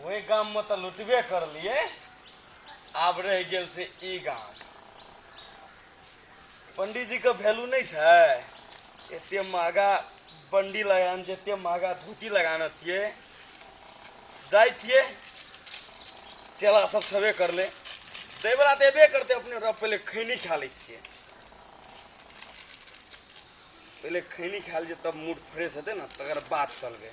ओहि गाममे तऽ लुटबे करलिए आब रह गेल से ई गाम पंडीजीके वैल्यू नहीं है एत महगा बंडी लगान जते महगा धोती लगाना छिए जाइ छिए चेला सब छबे कर ले देवरा तो एबे करते अपने रब पहले खैनी खा ले छिए पहले खैनी खा लीजिए तब मूड फ्रेश हेतै ना तकर बाद चलबे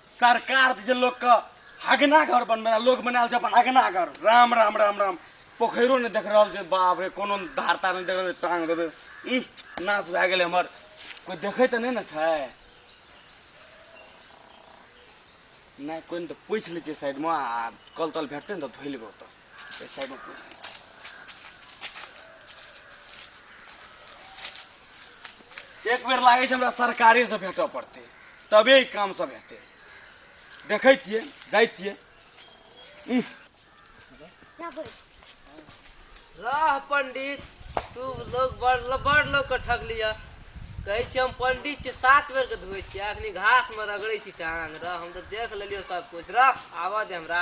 सरकार जे लोग के हगना घर बनबे लोग बनाल छै अपन हगना घर राम राम राम राम पोखरो ने देख रहल छै बाप रे कोनो धारता ने देख रहल टांग देबे नाश भए गेलै हमर कोई देखे तऽ नहि ने छै नहि कोई तऽ पूछि लै छियै साइडमे आ कल तल भेटतै ने तऽ धोइ लेबै ओतऽ एक बेर लागै छै हमरा सरकारेसँ भेटऽ पड़तै तबे ई काम सब हेतै देखै छियै जाइ छियै उह, राह पंडित तू लोग बड़ बड़ लोग के ठगलिया कहै छी हम पंडित छी सात बेर के धोए छी अखनी घास में रगड़े छी टांग रह हम तो देख लेलियो सब कुछ रह आवा दे हमरा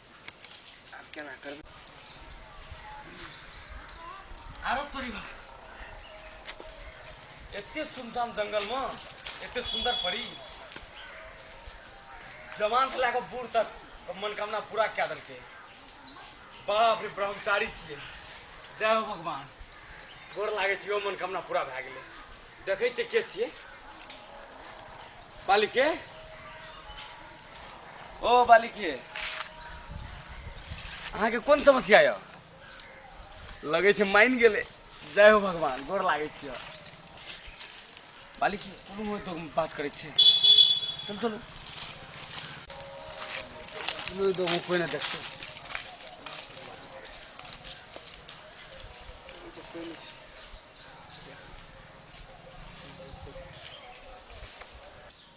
आब केना करबै आरो तोरी बा एते सुनसान जंगल में एते सुंदर परी जवान से लए कऽ बूढ़ तक के मनोकामना पूरा कए देलकै बाप रे ब्रह्मचारी छियै जय हो भगवान गोर लागै छियै ओ मनोकामना पूरा भए गेलै देखै छियै के छियै बालिके ओ बालिक ये अहाँके कोन समस्या यऽ लगै छै मानि गेलै जय हो भगवान गोर लागै छियै बालिक ये, कोनो होइ तो बात करै छै चल चलू चलू ई दोगो कोइ नहि देखतै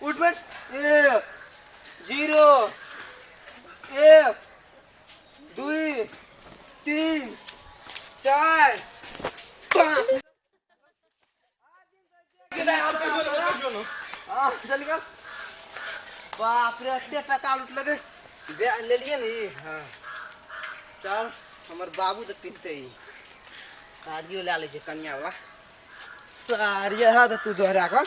उठ बैठ एक जीरो एक दुई तीन चार पाँच आ, चल गया बाप रे एते टका लुटल गे बे लेलिए नी हाँ चल हमर बाबू तऽ पिटते ही साड़ियो लए लै छै कनिया वाला साड़ी है तऽ तू दोहरा कऽ